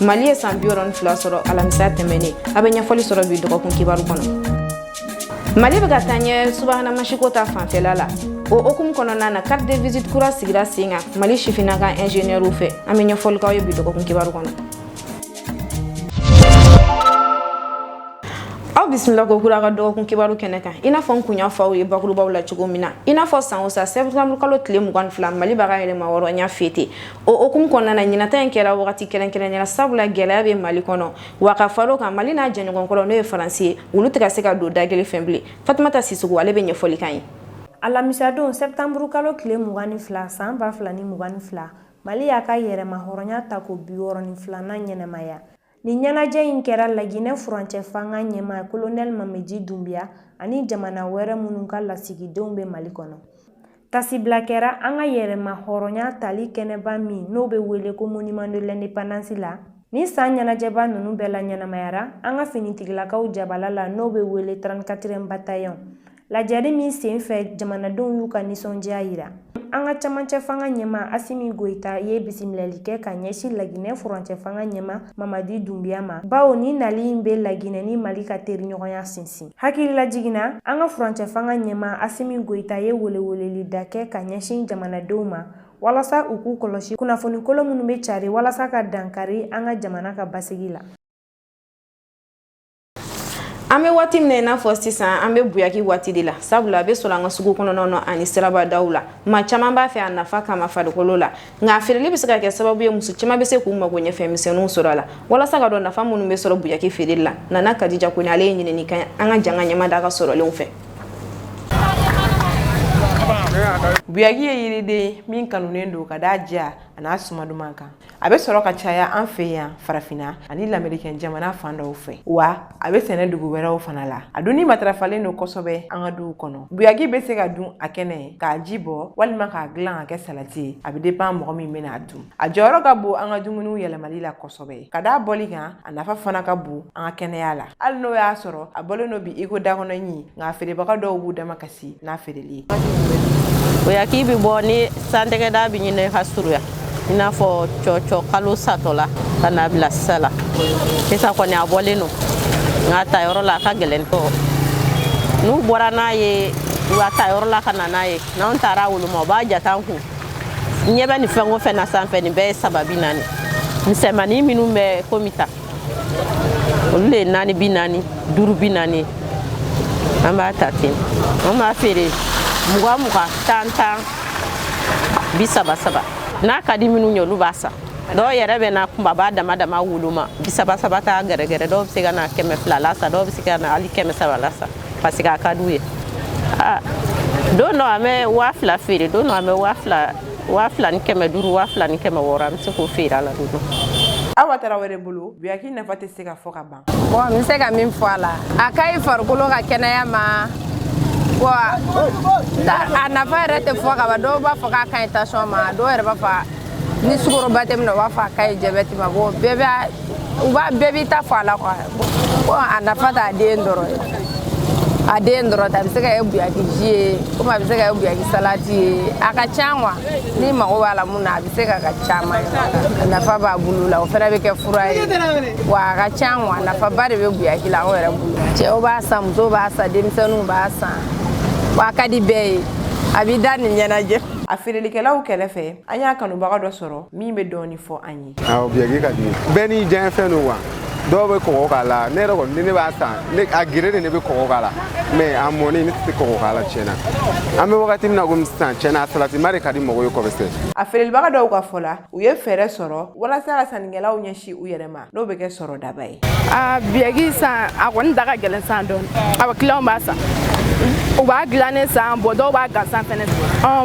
mali ye san biwɔɔrɔ ni fila sɔrɔ alamisa tɛmɛnen aw bɛ ɲɛfɔli sɔrɔ bi dɔgɔkun kibaru kɔnɔ mali bɛ ka taa ɲɛ subahana masinko ta fanfɛla la o hukumu kɔnɔna na carte de visite kura sigira sen kan mali sifina ka ingénieurw fɛ an bɛ ɲɛfɔli k'aw ye bi dɔgɔkun kibaru kɔnɔ aw bisimila ko kura ka dɔgɔkun kibaru kɛnɛ kan i n'a fɔ n kun y'a fɔ aw ye bakurubaw la cogo min na i n'a fɔ san o san septembre kalo tile mugan ni fila mali b'a ka yɛrɛmahɔrɔnya fêter o hukumu kɔnɔna na ɲinan ta in kɛra wagati kɛrɛnkɛrɛnnen ye sabula gɛlɛya bɛ mali kɔnɔ wa ka far'o kan mali n'a jɛɲɔgɔnkɔrɔ n'o ye faransi ye olu tɛ ka se ka don da kelen fɛ bilen fatumata sisɔkɔ ale bɛ ɲɛfɔli k'an ye alamisadon sɛtanburu kalo tile mugan ni fila san ba fila ni mugan ni fila mali y'a ka yɛrɛmahɔrɔnya tako biwɔɔrɔ ni filanan ɲɛnamaya Ni ɲɛnajɛ in kɛra laginɛ furancɛ fanga ɲɛmaa kolonɛli mamadi dunbiya ani jamana wɛrɛ minnu ka lasigidenw bɛ mali kɔnɔ taasibila kɛra an ka yɛrɛmahɔrɔnya tali kɛnɛba min n'o bɛ wele ko monument de l'indépendance la ni san ɲɛnajɛba ninnu bɛɛ laɲɛnamayara an ka finitigilakaw jabala la n'o bɛ wele trente-quatrième bataillon Lajɛli min senfɛ jamanadenw y'u ka nisɔndiya yira an ka camancɛ fanga ɲɛmaa asimi goyita ye bisimilali kɛ ka ɲɛsin laginɛ furancɛ fanga ɲɛmaa mamadi dunbiya ma bawo ni nali in bɛ laginɛ ni mali ka teriɲɔgɔnya sinsin hakililajigin na an ka furancɛ fanga ɲɛmaa asimi goyita ye welewelelida kɛ ka ɲɛsin jamanadenw ma walasa u k'u kɔlɔsi kunnafonikolon minnu bɛ cari walasa ka dankari an ka jamana ka basigi la an bɛ waati min na i n'a fɔ sisan an bɛ buyaki waati de la sabula a bɛ sɔrɔ an ka sugu kɔnɔnaw na ani sirabadaw la maa caman b'a fɛ a nafa kama farikolo la nka a feereli bɛ se ka kɛ sababu ye muso caman bɛ se k'u magoɲɛfɛn misɛnninw sɔrɔ a la walasa ka dɔn nafa minnu bɛ sɔrɔ buyaki feereli la nana kadija kɔnɛ ale ye ɲinini kɛ an ka jɛ k'an ɲɛmada a ka sɔrɔlenw fɛ buyaki ye yiriden min kanunen don ka d'a diya a n'a suma duman kan a bɛ sɔrɔ ka caya an fɛ yan farafinna ani lamerikɛn jamana fan dɔw fɛ wa a bɛ sɛnɛ dugu wɛrɛw fana la a dunni matarafalen don kosɛbɛ an ka duw kɔnɔ buyaki bɛ se ka dun a kɛnɛ k'a ji bɔ walima k'a dilan ka kɛ salati ye a bɛ dépend mɔgɔ min bɛna a dun a jɔyɔrɔ ka bon an ka dumuniw yɛlɛmali la kosɛbɛ ka d'a bɔli kan a nafa fana ka bon an ka kɛnɛya la hali n'o y'a sɔrɔ a bɔlen don bi iko dakɔnɔɲi nka feerebaga dɔw b'u damakasi si n'a feereli ye buyaki bi bɔ ni san tɛgɛda b'i ɲini ka surunya i n'a fɔ cɔcɔ kalo satɔla ka n'a bila sisan na sisan kɔni a bɔlen don nka ta yɔrɔ la a ka gɛlɛn tɔ n'u bɔra n'a ye u ka ta yɔrɔ la ka na n'a ye n'anw taara woloma u b'a jate an kun ɲɛ bɛ nin fɛn o fɛn na sanfɛ nin bɛɛ ye saba bi naani misɛnmanin minnu bɛ komi ta olu de ye naani bi naani duuru bi naani an b'a ta ten an b'a feere mugan mugan tan tan bi saba saba n'a ka di minnu ye olu b'a san dɔw yɛrɛ bɛ na kunbaba dama dama woloma bi saba saba t'a gɛrɛgɛrɛ dɔw bɛ se ka na kɛmɛ fila la san dɔw bɛ se ka na hali kɛmɛ saba la san parce que a ka d'u ye don dɔ an bɛ waa fila feere don dɔ an bɛ waa fila waa fila ni kɛmɛ duuru waa fila ni kɛmɛ wɔɔrɔ an bɛ se k'o feere a la don awa tarawele bolo buyaki nafa tɛ se ka fɔ ka ban bon n bɛ se ka min fɔ a la a ka ɲi farikolo ka kɛnɛya ma wa a nafa yɛrɛ tɛ fɔ ka ban dɔw b'a fɔ k'a ka ɲi tension ma dɔw yɛrɛ b'a fɔ ni sukoroba tɛ min na u b'a fɔ a ka ɲi jabɛti ma bon bɛɛ b'a bɛɛ b'i ta fɔ a la quoi ko a nafa t'a den dɔrɔn ye a den dɔrɔn tɛ a bɛ se ka kɛ buyaki ji ye komi a bɛ se ka kɛ buyaki salati ye a ka ca quoi n'i mago b'a la mun na a bɛ se ka kɛ caman a nafa b'a bulu la o fana bɛ kɛ fura ye wa a ka ca quoi nafaba de bɛ buyaki la anw yɛrɛ bolo cɛw b'a san musow b'a san denmisɛnninw b'a san wa a ka di bɛɛ ye a b'i da nin ɲɛnajɛ a feerelikɛlaw kɛrɛfɛ an y'a kanubaga dɔ sɔrɔ min bɛ dɔɔni fɔ an ye awɔ biyaki ka di n ye bɛɛ n'i diyanye fɛn don wa dɔw bɛ kɔgɔ k'a la ne yɛrɛ kɔni ni ne b'a san ne a geren de ne bɛ kɔgɔ k'a la mais a mɔni ne tɛ se kɔgɔ k'a la tiɲɛna an bɛ wagati min na komi sisan tiɲɛna a salatima de ka di mɔgɔw ye kɔbɛsɛ a feerelibaga dɔw ka fɔ la u ye fɛɛrɛ sɔrɔ walasa ka sannikɛlaw ɲɛsin u yɛrɛ ma n'o bɛ kɛ sɔrɔdaba ye a biyaki san a kɔni da ka gɛlɛn san dɔɔni awɔ kiliyanw b'a san u b'a dilannen san bon dɔw b'a gansan fɛnɛ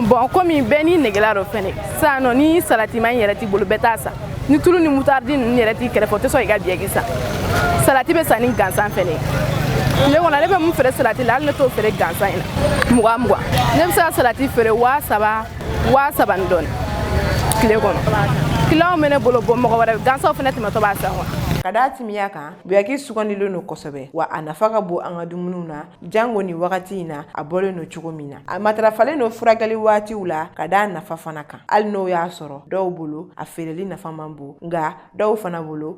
bon komi bɛɛ n'i negela don fɛnɛ sinon ni salatima yɛrɛ t'i bolo bɛɛ t'a san ni tulu ni mutaridi ninnu yɛrɛ t'i kɛrɛfɛ o tɛ sɔn i ka biyaki san salati bɛ san ni gansan fɛnɛ ye tile kɔnɔ ne bɛ mun feere salati la hali ne t'o feere gansan in na mugan mugan ne bɛ se ka salati feere waa saba waa saba ni dɔɔni tile kɔnɔ kiliyanw bɛ ne bolo bon mɔgɔ wɛrɛ gansanw fana tɛmɛtɔ b'a san wa ka da a timiya kan buyaki sugandilen don kosɛbɛ wa a nafa ka bon an ka dumuniw na jango ni wagati in na a bɔlen don cogo min na a matarafalen don furakɛli waatiw la ka da a nafa fana kan hali n'o y'a sɔrɔ dɔw bolo a feereli nafa man bon nka dɔw fana bolo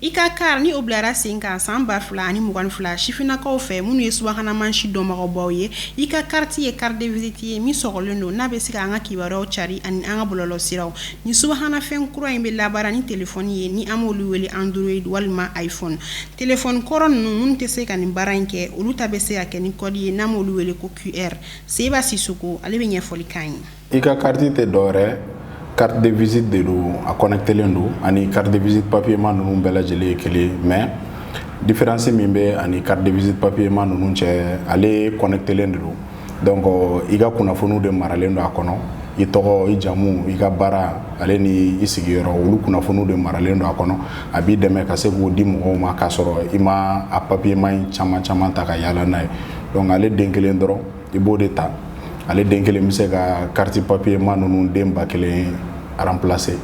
ICA carte ni o bilara sen kan san ba fila ani mugan ni fila sifinnakaw fɛ minnu ye subahana mansin dɔnbagaw ye ICA carte ye carte de visite ye min sɔgɔlen don n'a bɛ se ka an ka kibaruyaw cari ani an ka bɔlɔlɔsiraw ni subahana fɛn kura in bɛ labaara ni telefɔni ye ni an m'olu wele Android walima iPhone telefɔni kɔrɔ ninnu minnu tɛ se ka nin baara in kɛ olu ta bɛ se ka kɛ ni kɔdi ye n'an m'olu wele ko QR Seba Sisoko ale bɛ ɲɛfɔli k'an ye i ka kariti tɛ dɔwɛrɛ carte de visite de don a connectelen don ani carte de visite papier ma ninnu bɛɛ lajɛlen ye kelen mais différence min bɛ ani carte de visite papier ma ninnu cɛ ale connectelen de don donc i ka kunnafoniw de maralen don a kɔnɔ i tɔgɔ i jamu i ka baara ale ni i sigiyɔrɔ olu kunnafoniw de maralen don a kɔnɔ a b'i dɛmɛ ka se k'o di mɔgɔw ma k'a sɔrɔ i ma a papier ma in caman caman ta ka yaala n'a ye donc ale den kelen dɔrɔn i b'o de ta ale den kelen bɛ se ka kariti papier ma ninnu den ba kelen remplacer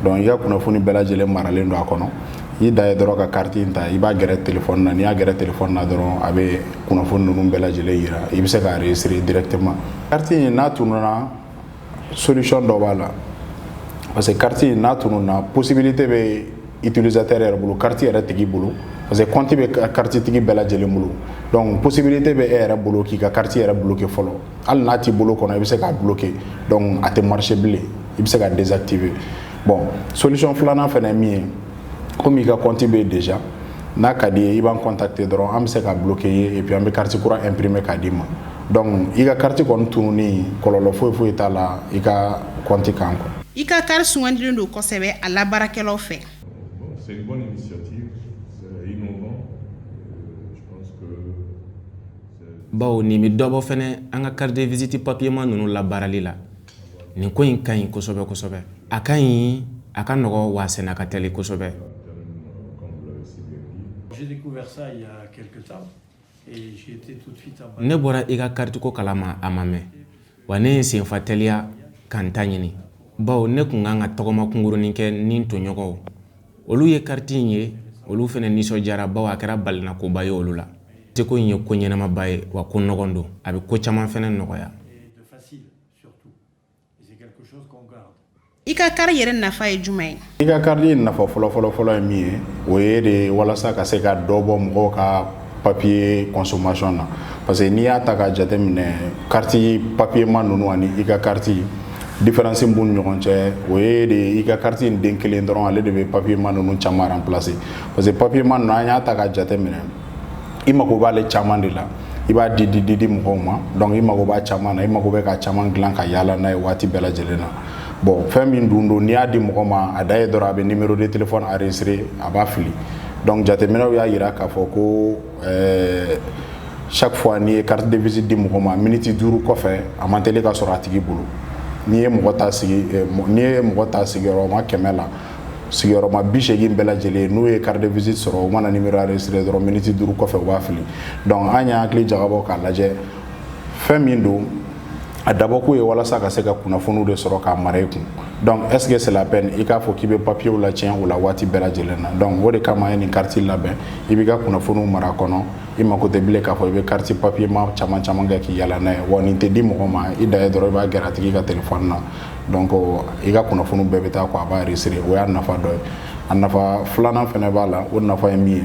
donc i ka kunnafoni bɛɛ lajɛlen maralen don a kɔnɔ i da ye dɔrɔn ka kariti in ta i b'a gɛrɛ téléphone na n'i y'a gɛrɛ téléphone na dɔrɔn a bɛ kunnafoni ninnu bɛɛ lajɛlen yira i bɛ se k'a enregistrer directement kariti in n'a tun solution dɔ b'a la parce que carte in n'a tununna possibilité bɛ utilisateur yɛrɛ bolo carte yɛrɛ tigi bolo parce que compte bɛ carte tigi bɛɛ lajɛlen bolo donc possibilité bɛ e yɛrɛ bolo k'i ka carte yɛrɛ bloquer fɔlɔ hali n'a t'i bolo kɔnɔ i bɛ se k'a bloquer donc a tɛ marcher bilen i bɛ se k'a désactiver bon solution filanan fana ye min ye komi i ka compte bɛ yen déjà n'a ka d'i ye i b'an contacter dɔrɔn an bɛ se k'a bloquer i ye et puis an bɛ carte kura imprimer k'a d'i ma. donc i ka kariti kɔni tununi kɔlɔlɔ foyi foyi t'a la i ka compte kan quoi i ka kariti sugandilen don kosɛbɛ a labaarakɛlaw fɛ bawo nin bɛ dɔ bɔ fɛnɛ an ka carte de visite papier ma ninnu labaarali la nin ko in ka ɲi kosɛbɛ kosɛbɛ a ka ɲi a ka nɔgɔ wa a senna ka teli kosɛbɛ ne bɔra i ka kariti ko kalama a ma mɛn wa ne ye senfa teliya ka n ta ɲini bawo ne kun kan ka tɔgɔma kunkurunin kɛ ni n tɔɲɔgɔnw olu ye kariti in ye olu fɛnɛ nisɔndiyara bawo a kɛra balinakoba ye olu la te ko in ye ko ɲɛnamaba ye wa ko nɔgɔn don a bɛ ko caman fɛnɛ nɔgɔya I ka kariti yɛrɛ nafa ye jumɛn ye i ka kariti in nafa fɔlɔ fɔlɔ fɔlɔ ye min ye o ye de walasa ka se ka dɔ bɔ mɔgɔw ka papier consommation na parce que n'i y'a ta ka jateminɛ kariti papier ma ninnu ani i ka kariti différence b'u ni ɲɔgɔn cɛ o ye de i ka kariti in den kelen dɔrɔn ale de bɛ papier ma ninnu caman remplacer parce que papier ma ninnu n'an y'a ta ka jateminɛ i mago b'ale caman de la i b'a di di di di mɔgɔw ma donc i mago b'a caman na i mago bɛ ka caman dilan ka yaala n'a ye waati bɛɛ lajɛlen na bon fɛn min dun don n'i y'a di mɔgɔ ma a da ye dɔrɔn a bɛ numéro de téléphone enregistrer a b'a fili donc jateminɛw y'a yira k'a fɔ ko euh, chaque fois n'i ye carte de visite di mɔgɔ ma miniti duuru kɔfɛ a man teli ka sɔrɔ a tigi bolo n'i ye mɔgɔ ta sigi eh, n'i ye mɔgɔ ta sigiyɔrɔma kɛmɛ la sigiyɔrɔma bi segin bɛɛ lajɛlen n'u ye carte de visite sɔrɔ u mana numéro enregistré dɔrɔn miniti duuru kɔfɛ u b'a fili donc an y'an hakili jagabɔ k'a lajɛ fɛn min don a dabɔkun ye walasa ka se ka kunnafoniw de sɔrɔ k'a mara i kun donc est ce que c'est la peine i k'a fɔ k'i bɛ papiyew lacɛn o la waati bɛɛ lajɛlen na donc o de kama an ye nin kariti labɛn i b'i ka kunnafoniw mara kɔnɔ i mako tɛ bilen k'a fɔ i bɛ kariti papiyema caman caman kɛ k'i yala n'a ye wa nin tɛ di mɔgɔ ma i dan ye dɔrɔn i b'a gɛrɛ a tigi ka telefɔni na donc i ka kunnafoni bɛɛ bɛ taa ko a b'a enregistré o y'a nafa dɔ ye a nafa filanan fana b'a la o nafa ye min ye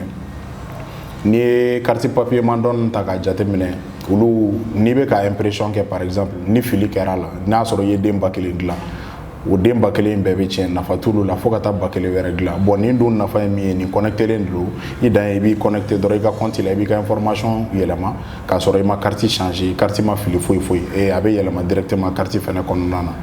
n'i ye kariti papiyeman dɔn ta k'a jateminɛ olu n'i bɛ ka impression kɛ par exemple ni fili kɛra a la n'a sɔrɔ i ye den ba kelen dilan o den ba kelen bɛɛ bɛ tiɲɛ nafa t'olu la fo ka taa ba kelen wɛrɛ dilan bon nin dun nafa ye min ye nin kɔnɛtelen don i dan ye i b'i kɔnɛte dɔrɔn i ka kɔnti la i b'i ka information yɛlɛma k'a sɔrɔ i ma kariti changé kariti ma fili foyi foyi e a bɛ yɛlɛma directement kariti fana kɔnɔna na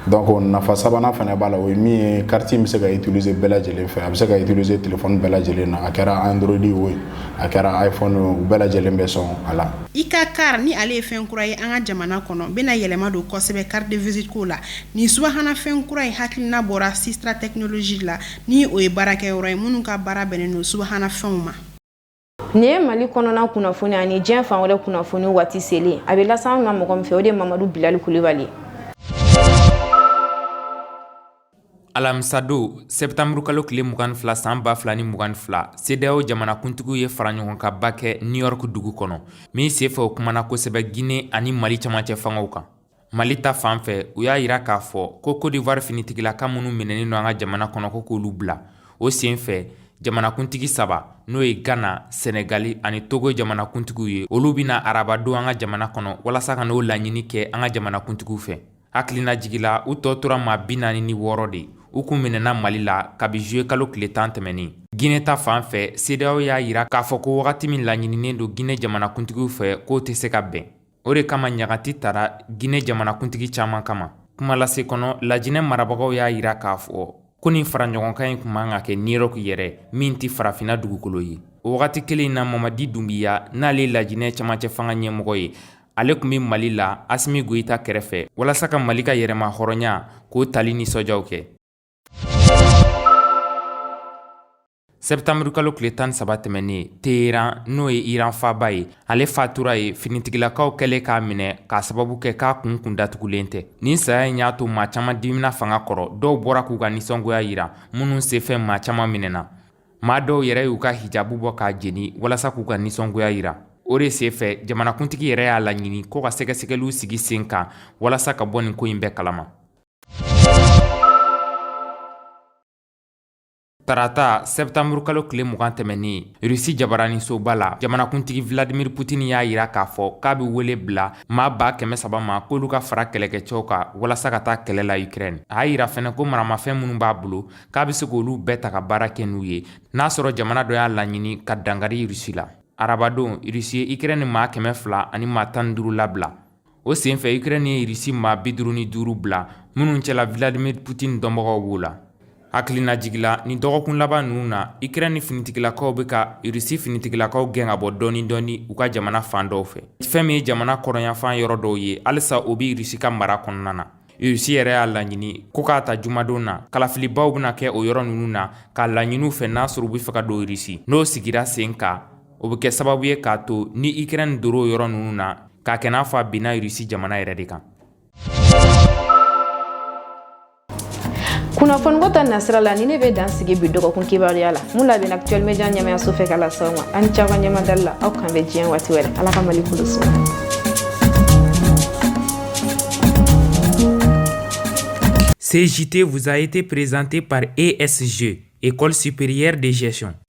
donc nafa sabanan fana b'a la o ye min ye kariti in bɛ se ka utiliser bɛɛ lajɛlen fɛ a bɛ se ka utiliser téléphone bɛɛ lajɛlen na a kɛra android ye o a kɛra iphone ye o bɛɛ lajɛlen bɛ sɔn a la. i ka carte ni ale ye fɛn kura ye an ka jamana kɔnɔ bɛna yɛlɛma don kosɛbɛ carte de visite ko la nin subahana fɛn kura in hakilina bɔra sistra technologie la ni o ye baarakɛyɔrɔ ye minnu ka baara bɛnnen don subahana fɛnw ma. nin ye mali kɔnɔna kunnafoni ani diɲɛ fan wɛrɛ kunnafoni waati selen a bɛ lase an ma mɔgɔ min fɛ o de ye mamadu bilali kulibali alamisadon sɛptanburu kalo tile mugan ni fila san ba fila ni mugan ni fila sedeyaw jamanakuntigiw ye faraɲɔgɔnkan ba kɛ new york dugu kɔnɔ min senfɛ u kumana kosɛbɛ gine ani mali camancɛ fangaw kan mali ta fan fɛ u y'a yira k'a fɔ ko kodiwari finitigilaka minnu minɛnen don an ka jamana kɔnɔ ko k'olu bila o sen fɛ jamanakuntigi saba n'o ye ghana senegali ani togo jamanakuntigiw ye olu bɛ na arabadon an ka jamana kɔnɔ walasa ka n'o laɲini kɛ an ka jamanakuntigiw fɛ hakilinajigi la u tɔ tora maa bi naani ni wɔɔrɔ de u kun minɛna mali la kabi zuye kalo tile tan tɛmɛnin gine ta fan fɛ sedeyaw y'a yira k'a fɔ ko wagati min laɲininen don gine jamanakuntigiw fɛ k'o tɛ se ka bɛn o de kama ɲagati tara gine jamanakuntigi caman kama kuma lase kɔnɔ lajinɛ marabagaw y'a yira k'a fɔ ko nin faraɲɔgɔnkan in kun man ka kɛ new york yɛrɛ min tɛ farafina dugukolo ye o wagati kelen na mamadi dunbiya n'ale lajinɛ camancɛ fanga ɲɛmɔgɔ ye ale kun bɛ mali la asimi goyita kɛrɛfɛ walasa ka mali ka yɛrɛmahɔrɔnya k'o tali nisɔndiyaw kɛ sɛtanburukalo tile tan ni saba tɛmɛnnen Téhéran n'o ye Iran faaba ye ale fatura ye finitigilakaw kɛlen k'a minɛ k'a sababu kɛ k'a kun kun datugulen tɛ nin saya in y'a to maa caman dimina fanga kɔrɔ dɔw bɔra k'u ka nisɔngoya yira minnu senfɛ maa caman minɛna maa dɔw yɛrɛ y'u ka hijabu bɔ k'a jeni walasa k'u ka nisɔngoya yira o de senfɛ jamanakuntigi yɛrɛ y'a laɲini ko ka sɛgɛsɛgɛliw sigi sen kan walasa ka bɔ nin ko in bɛɛ kalama Tarata septembre kalo tile mugan tɛmɛnen Russie jabaraninsoba la, jamanakuntigi Vladimir Putin y'a yira k'a fɔ k'a bɛ wele bila maa ba kɛmɛ saba ma k'olu ka fara kɛlɛkɛcɛw kan walasa ka taa kɛlɛ la Ukraine. A y'a yira fɛnɛ ko maramafɛn minnu b'a bolo k'a bɛ se k'olu bɛɛ ta ka baara kɛ n'u ye n'a sɔrɔ jamana dɔ y'a laɲini ka dankari Russie la. Arabadon, Russie ye Ukraine maa kɛmɛ fila ani maa tan ni duuru labila. O senfɛ Ukraine ye Russie maa bi duuru ni duuru bila minnu cɛla Vladimir Putin dɔnbagaw b'o la hakilinajigi la nin dɔgɔkun laban ninnu na Ukraine finitigilakaw bɛ ka Russie finitigilakaw gɛn ka bɔ dɔɔnin dɔɔnin u ka jamana fan dɔw fɛ fɛn min ye jamana kɔrɔnyanfan yɔrɔ dɔw ye halisa o bɛ Russie ka mara kɔnɔna na Russie yɛrɛ y'a laɲini ko ka ta jumadon na kalafilibaw bɛna kɛ o yɔrɔ ninnu na k'a laɲini u fɛ n'a sɔrɔ u bɛ fɛ ka don Russie n'o sigira sen kan o bɛ kɛ sababu ye k'a to ni Ukraine donna o yɔrɔ ninnu na ka kɛ n'a fɔ a binna Russie jamana yɛrɛ de kan kunnafoniko ta nasira la nin de bɛ dan sigi bi dɔgɔkun kibaruya la min labɛnna actuel media ɲɛmaayaso fɛ ka lase aw ma aw ni ce aw ka ɲɛmadali la aw kan bɛ diɲɛ waati wɛrɛ ala ka mali kolo suma Ce JT vous a été présenté par ESG, École supérieure de gestion.